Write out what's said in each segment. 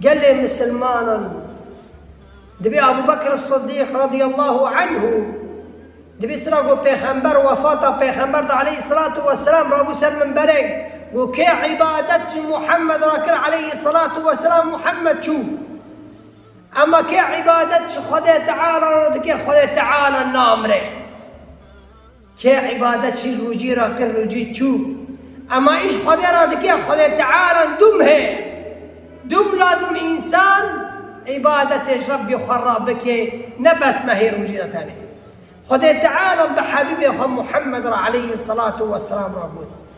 Gelê misilmanan dibê Ebû Bekr Siddîq radîyallahu anhu di vê sira got pêxember wefata pêxember de aleyhîsselatu wesselam rabû ser minberê got kê îbadet ji Muhemmed re kir aleyhîsselatu wesselam Muhemmed çû emma kê îbadet ji Xwedê Teala re dike Xwedê Teala namire. Kê îbadet çî rojî ra kir rojî çû. Ema îş Xwedê ra dike Xwedê Tealan dûm heye. Dûm lazim însan îbadetê Rebbê xwe ra bike ne bes mehê rojî de tenê. Xwedê Tealan bi Hebîbê xwe Muhemmed ra eleyhî selatû weselam ra got.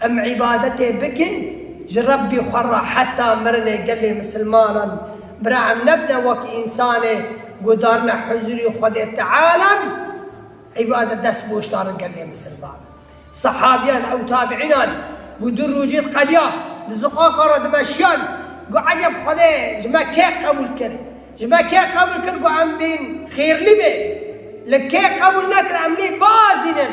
Em îbadetê bikin ji Rebbî xwe re heta mirinê gelê misilmanan bira em nebine wek însanê guhdarine huzurî Xwedê Tealan îbadet dest boş darin gelê misilmanan sehabîyan ew tabîînan guh du rojî diqediya di ziqaqa re dimeşiyan guh eceb Xwedê ji me kê qebûl kir ji me kê qebûl kir guh em bên xêrlî bê li kê qebûl nekir em nê biazînin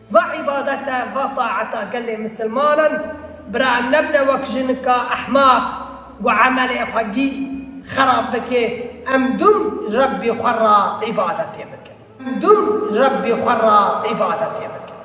Va îbadete, va taeta gelê misilmanan bira em nebine wek jinika ehmaq ku emelê xwe gî xerab bike, em dûm Rebbî xwe ra îbadetê bikin. Em dûm Rebbî xwe ra îbadetê bikin.